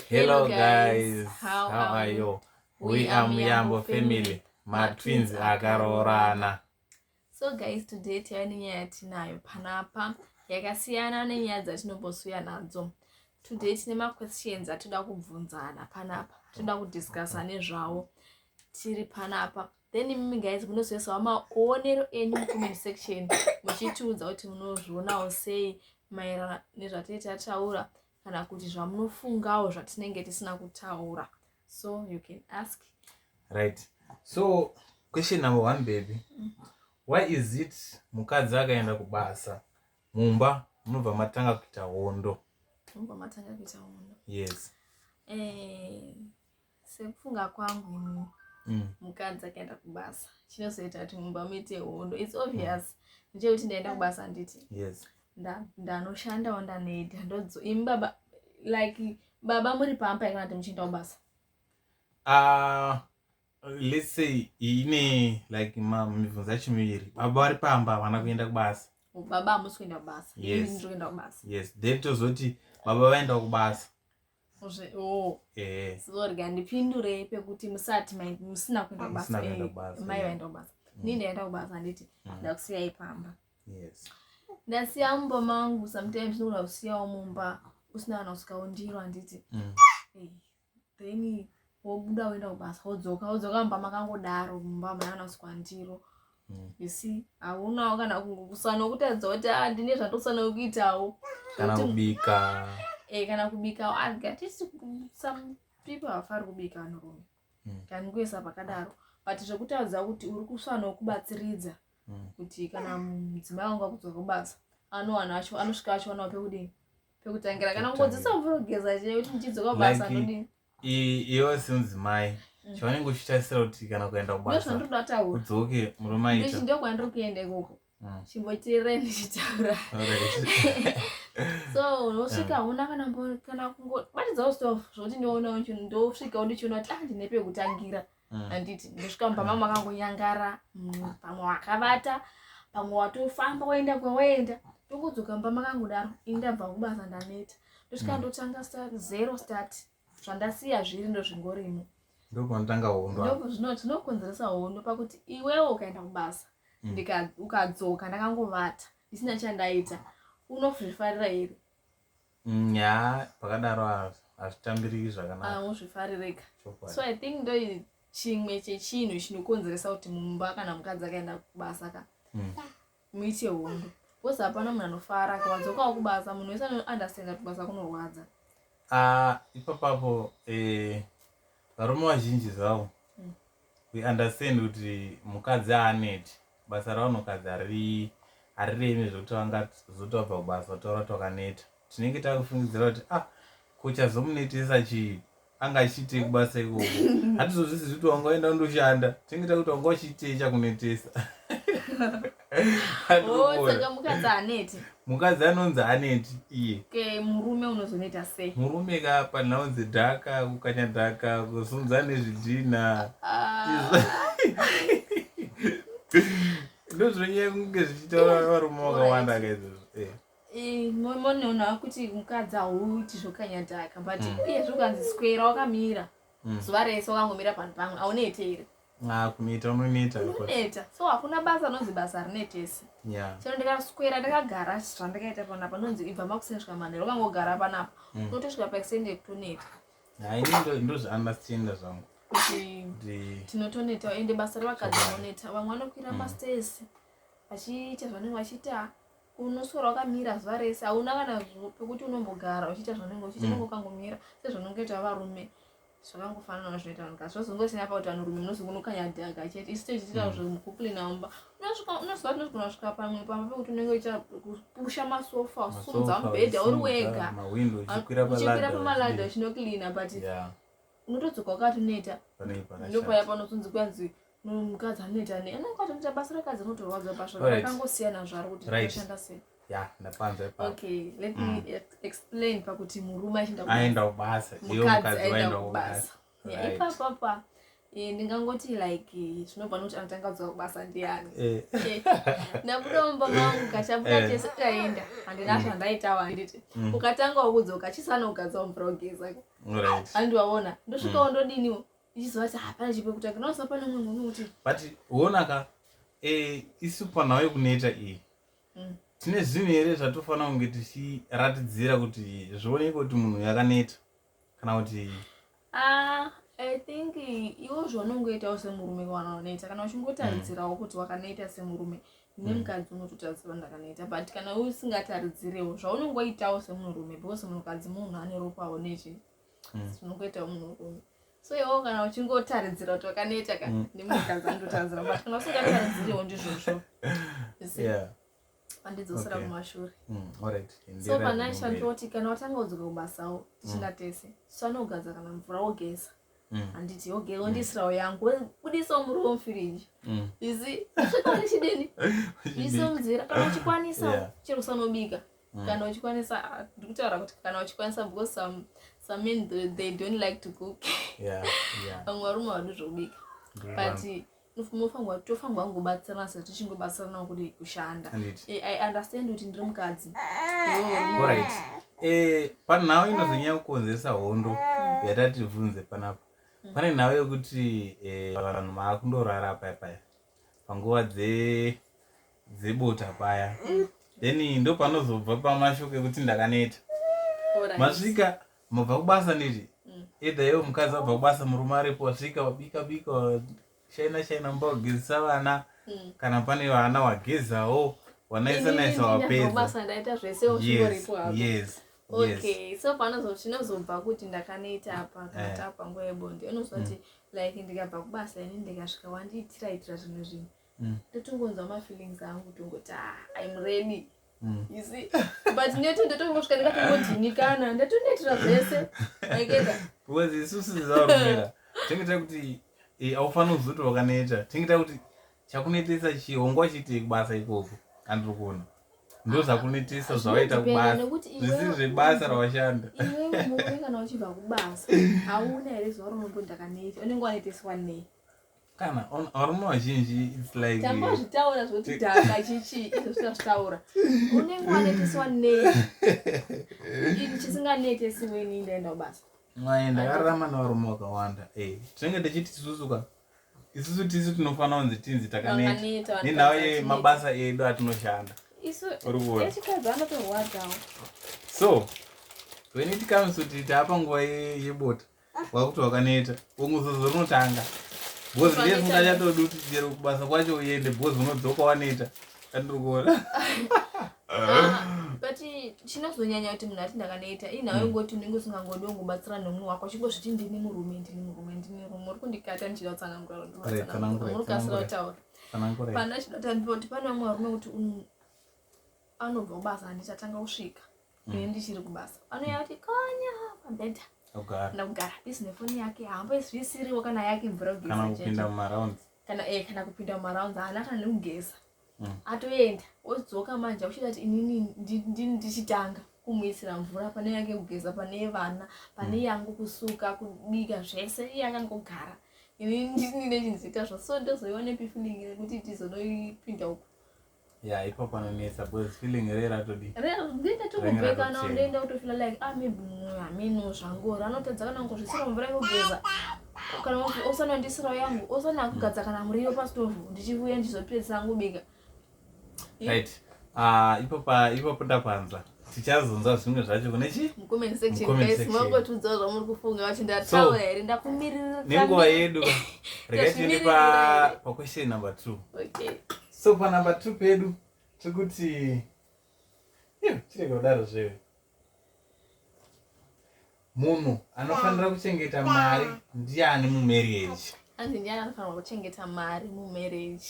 Hello guys, how are you? We are Muyambo family, matwins akaroorana. So guys, today tiyava nenyaya yatinayo panapa yakasiyana nenyaya dzatinombosuya nadzo. Today tine maquestions atoda kubvunzana panapa, toda kudiscussa nezvawo tiri panapa. Okay. then imimi guys munozoisawo maonero enyu mucomment section muchitiudza kuti munozvionawo sei maerana nezvatee tataura kana kuti zvamunofungawo zvatinenge tisina kutaura so you can ask right so question number one baby mm. why is it mukadzi akaenda kubasa mumba munobva matanga kuita hondo mumba matanga kuita hondo yes eh, sekufunga kwangu ini mm. mukadzi akaenda kubasa chinozoita kuti mumba muite hondo its obvious mm. ndechekuti ndaenda kubasa handiti yes ndanoshandawo ndanoita ndodzo imi baba like baba muri pamba here kana kuti muchienda kubasa ah, let's say ine like mibvunzo yacho miviri baba vari pamba havana kuenda kubasa baba hamusi kuenda kubasa yes. ndiri kuenda kubasa yes then tozoti baba vaenda kubasa Oh. Eh. sorry handipindurei pekuti musati musina kuenda kubasa eh, mai vaenda kubasa mm. nii ndaenda kubasa handiti mm. ndakusiyai pamba ndasiya mumba mangu sometimes ndinoda kusiyawo mumba usina kana kusvika undiro handiti mm. eh, then wobuda woenda kubasa wodzoka wodzoka mumba makangodaro mumba mayanaswa ndiro mm. you see haunawo kana kusana kutadza kuti a ah, ndine zvatosana kuitawo kana kubika e kana kubikawo adya ah, tisi some people hafari kubika anorume mm. kani kuesa pakadaro but zvekutadza kuti uri kusana kubatsiridza mm. kuti kana mudzimai wangu akudzoka kubasa anowana acho anosvika achiwanawo pekudini pekutangira kana kungodzisa mvura kugeza chete kuti ndichidzoka kubasa anodini iwe semudzimai mm. chaunenge uchitarisira kuti kana kuenda kubasakudzoke murume aita ndiko kwandiri kuenda ikoko mm. chimbotirire ndichitaura so unosvika huna mm. kana kana kungobatidzawo stof zvokuti ndioona ndosvika undichiona kuti ah ndine pekutangira mm. handiti ndosvika mumba mama vakangonyangara mm, pamwe wakavata pamwe watofamba waenda kwawaenda ndokudzoka mumba makangudaro ini ndabva kubasa ndaneta ndosvika mm. ndotanga zero start zvandasiya zviri ndozvingorimo ndopanotanga hondo zvinokonzeresa hondo pakuti iwewo ukaenda kubasa mm. ukadzoka ndakangovata ndisina chandaita unozvifarira here Mm, ya pakadaro hazvitambiriki zvakanaka ah, uzvifarireka so i think ndo chimwe chechinhu chinokonzeresa kuti mumba kana mukadzi akaenda kubasa ka mm. muite hondo bcause hapana munhu anofara kawadzokawo kubasa munhu wese anounderstanda kuti basa kunorwadza ah, ipapapo eh, varume vazhinji zvavo we understand kuti mukadzi aaneti basa ravanhukadzi harirevi zvekuti vangazoti vabva kubasa vataura kuti wakaneta tinenge takufungidzira kuti ah kuchazomunetesa chii anga achiitei kubasa ikoko hatizozvisi zvekuti wanga waenda undoshanda tinenge takuti wanga uchiitei chakunetesa Oh, saka mukadzi aneti mukadzi anonzi aneti iye ke murume unozoneta sei murume ka panhaunzi dhaka kukanya dhaka kusunza nezvidhina ah. ndozvinonyaya kunge zvichitaura varume vakawanda kaizvozvo eh. eh, monoona kuti mukadzi hauiti zvokanya dhaka but mm. iye zvokanzi swera wakamira mm. zuva rese wakangomira panhu pamwe aunete here Ah, kuneta unoneta unoneta so hakuna basa anonzi basa harinetesi chero ndikaswera ndakagara zvandakaita panapa nonzi ibva makuseni svika manhero ukangogara panapa mm. unotosvika paextend yekutoneta haini ndozviunderstanda zvangu kuti tinotoneta ende basa revakadzi rinoneta vamwe vanokwira mm. mastesi vachiita zvanenge vachiita unoswera wakamira zuva rese hauna kana pekuti unombogara uchiita zvanenge uchiita mm. ukangomira sezvanongoita varume zvakangofanana zvinoita vanhu kasi zvazongosina pakuti vanhurume munozongonokanyadhaka chete isu tichiita mm. zvemukupulinaumba unoziva tinozogona kusvika pamwe pamba pekuti unenge uchiita kupusha masofa usumudza mubhedha uri wega uchikwira pamaladha uchinoklina but unotodzoka wakati unoita ndopaya panozonzi kwanzi mukadzi anoita ne anenge atoita basa rakadzi anotorwadza basa rakangosiyana zvaro kuti rinoshanda sei ya ndapanzwa ipapo okay let me mm. explain pakuti murume achienda kubasa aenda kubasa iyo mukadzi aenda kubasa ipapo apa eh, ndingangoti like eh, zvinobva nokuti anotanga kudzwa kubasa ndiani eh. ndabuda mumba mangu kachabuda tese taenda handina mm. zvandaitawo handiti mm. ukatanga wakudzoka chisana kugadzwa mvura ugeza handiwaona ndosvikawo ndodiniwo ichiziva kuti hapana chipo kutanga naoziva pane umwe munhu kuti but huonaka eh, isu panhau yekuneta iyi mm. tine zvinhu here zvatofanira kunge tichiratidzira kuti zvioneke kuti munhu yakaneta kana kuti ah, i think iwo zvaunongoitawo semurume wanoneta kana uchingotaridzirawo mm. kuti wakaneta semurume nemukadzi mm. unototaridzira ndakaneta but kana usingataridzirewo zvaunongoitawo semurume because munhukadzi munhu ane ropawo nezve unongoita mm. munhu werume so iwo kana uchingotaridzira kuti wakaneta ka mm. ndimukanza ndotaridzira but kana usingataridziriwo ndizvozvo andidzosera kumashure mm, so panaisha ndoti kana watanga kudzoka kubasawo tichina mm. tese so anogeza kana mvura wogeza handiti oge wondisirawo yangu budisawo muri womufiriji isi svika ndichidini iso muzira kana uchikwanisawo chero usanobika mm. kana uchikwanisa ah, ndikutaura kuti kana uchikwanisa because some, some men they, they don't like to cook yeah, yeah. vamwe varume vadi zvekubika but mofanwa tofanwa kungobatsirana sezvo tichingobatsirana kuti kushanda eh, i understand kuti ndiri mukadzi orit eh, panhau inozonyanya kukonzeresa hondo mm. yatati tibvunze panapa mm. pane nhau yekuti eh, vanhu maakundorara paya paya panguva dze dzebota paya then ndopanozobva pamashoko ekuti ndakaneta masvika mabva kubasa neti mm. edha iwo mukadzi abva kubasa murume aripo wasvika wabika bika shaina shaina mumba wagezisa vana mm. kana pane vana wagezawo wanaisa naisa wapedzaes okay so panozo chinozobva kuti ndakaneta apa kana eh. tava panguva yebonde unozoti mm. like ndikabva kubasa ini ndikasvika wandiitira itira zvimwe zvinhu mm. ndotongonzwa mm. mafeelings angu kutongoti ah, im ready mm. you see but neti ndotongosvika ndikatongodhinikana ndatonetira zvese aiketa because isusu zaurumira tinge tiri kuti eh, aufanira kuzuti wakaneta tinge tiri kuti chakunetesa chihongo achiitei kubasa ikoko andiri kuona ndo zvakunetesa zvawaita kubasa zvisiri zvebasa rawashanda kana uchibva kubasa hauna here zuva romombondakaneti unenge waneteswa nei kana varume vazhinji its like tambazvitaura zvoti dhaka chichi izvo zvitazvitaura unenge waneteswa nei ini chisinganetesi weni ndaenda kubasa mai ndakararama nevarume vakawanda eh, tinenge tichiti tisusuka isusu tisu tinofanira kunzi tinzi takaneta nenhau yemabasa edu atinoshanda urikuonaechikadzi anotorwadzawo so when it comes kuti taapa nguva yebota ye wakuti wakaneta unguzozo rinotanga bhozi ndiye singachatodi kuti chero kubasa kwacho uende bhozi unodzoka waneta andiri kuona but chinozonyanya kuti munhu ati ndakaneta inhawe hmm. ngoti unenge usingangodi ungobatsira nomunhu wako chingozviti ndini murume ndini murume ndini murume uri kundikata ndichida kutsananguraurikasira kutaura pana chidati kuti pane vamwe varume kuti anobva kubasa handichatanga kusvika mm. ini ndichiri kubasa anouya kuti konya pambedha ndakugara bizi nefoni yake haamboisvisiriwo kana yake mvura kugezakana mumaraunds kana eh, kana kupinda mumaraunds haana kana nekugeza mm. atoenda odzoka manje akuchita kuti inini ndichitanga kumuisira mvura pane yake kugeza pane vana pane mm. yangu kusuka kubika zvese iye akangogara ini ndinechinzita zvo so ndozoiwa nepifilingi nekuti tizonoipinda uku Yeah, ipo panonetsa because feeling re ratodi. Re ndinda tokubeka na ndinda utofila like ah maybe mwa meno zvangu ranotadza kana ngozvisira mvura yogeza. Kana osana ndisira yangu, osana kugadza kana muriyo pa stove ndichivuya ndizopedza yangu bika. Right. Ah, uh, ipo pa ipo pota panza. tichazonzwa zvimwe zvacho kune chi mangotudzawo zvamuri kufunga vachi ndataura here ndakumiririra nenguva yedu regai tiende paquestion number two okay. so panumber two pedu tiri kuti chirega kudaro zvewe munhu anofanira kuchengeta mari ndiani mumarriage anzi ndiani anofanirwa kuchengeta mari mumarriage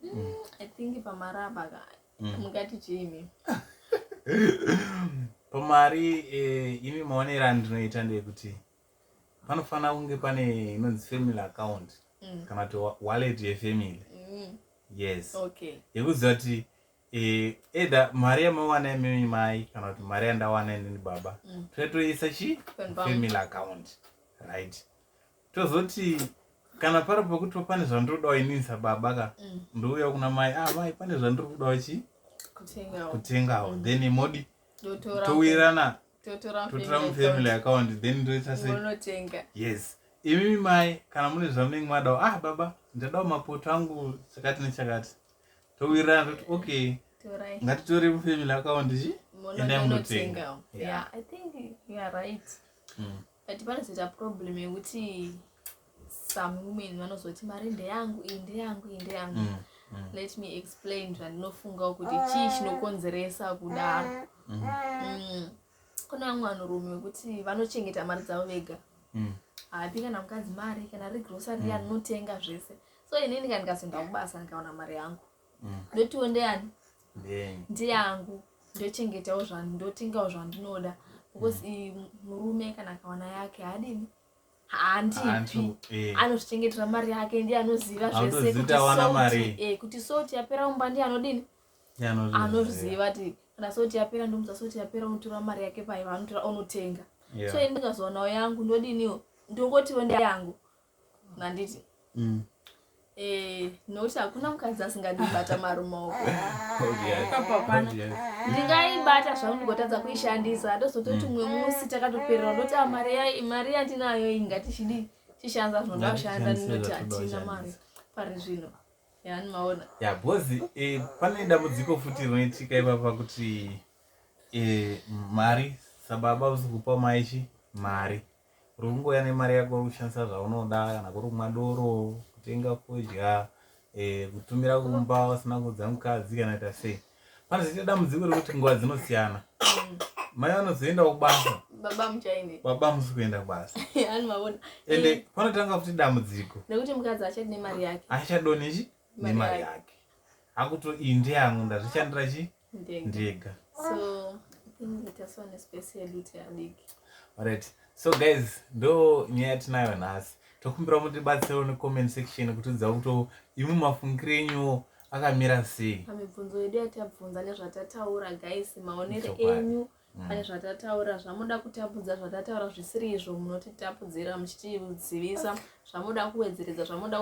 mm, mm. i think pamaraba ka mm. mungati chimi pamari eh, imi maonera ndinoita ndeyekuti panofanira kunge pane inonzi family account mm. kana kuti wallet yefamily mm. yes okay. yekuziva kuti eh, either mari yamawana imimi mai kana kuti mari yandawana inini baba mm. toyatoisa chi family account right tozoti kana pari pekuti pane zvandirodawo inini sababa ka mm. ndouya kuna mai ah mai pane zvandiri kudawo chi kutengawo then modi towirirana totora mufamily account then ndoita seinotenga yes imimi mai kana mune zvamunenge madawo ah baba ndadawo mapoto angu chakati nechakati towirirana toti okay ngatitore mufamily account chi endai munotenga yeah. yeah, i think you are right mm. but panozoita problem yekuti some women vanozoti mari ndeyangu iyi ndeyangu iyi ndeyangu mm, mm. let me explain zvandinofungawo kuti chii chinokonzeresa kudaro mm. mm. kune vamwe vanhurume vekuti vanochengeta mari dzavo vega mm. haapi kana mukadzi mari kana ri grocery mm. anotenga zvese so inini ka ndikazoenda kubasa ndikaona mari yangu mm. ndotiwo ndeyani ndeyangu ndochengetawo zvanhu ndotengawo zvandinoda because mm. murume kana akawana yake haadini haandipi eh. anozvichengetera mari yake ndiye anoziva zvese eh, kuti soti yapera umba ndiye anodini anozviziva ti kana soti yapera ndomuza soti yapera unotora mari yake paiva anotora onotenga so ini ndikazowanao yangu ndodiniwo ndongotiwo ndeyangu nganditi mm. eh, nokuti hakuna mukadzi asingandibata marumaoko ndingaibata zvangu ndigotadza kuishandisa ndozototi mumwe musi takatoperera ndoti ah, mari yandinayo iyi ngatichidii tishanza zvinoda kushanda ndinoti hatina mari pari zvino yanimaona ya bhozi eh, pane dambudziko futi rinoitika ipapa kuti eh, mari sababa usikupa maichi mari uri kungouya nemari yako uri kushandisa zvaunoda kana kuri kumwa doro kutenga kudya eh, kutumira kumba usina kuudza mukadzi kana ita sei panozoita dambudziko rekuti nguva dzinosiyana mai vanozoenda kubasa baba muchaine baba musi kuenda kubasa ani mavona ende eh. panotanga kuti dambudziko nekuti mukadzi achadi nemari yake achadoni chi nemari yake akuto iyi ndeyangu ndazvishandira chii ndega so right so guys ndo nyaya yatinayo nhasi tokumbira mutibatsirawo necomment section kutiudza kuti imwe mafungiro enyu akamira sei pamibvunzo yedu yatabvunza nezvatataura guys maonere enyu mm. pane zvatataura zvamuda kutapudza zvatataura zvisiri izvo munotitapudzira muchitizivisa zvamuda kuwedzeredza zvamuda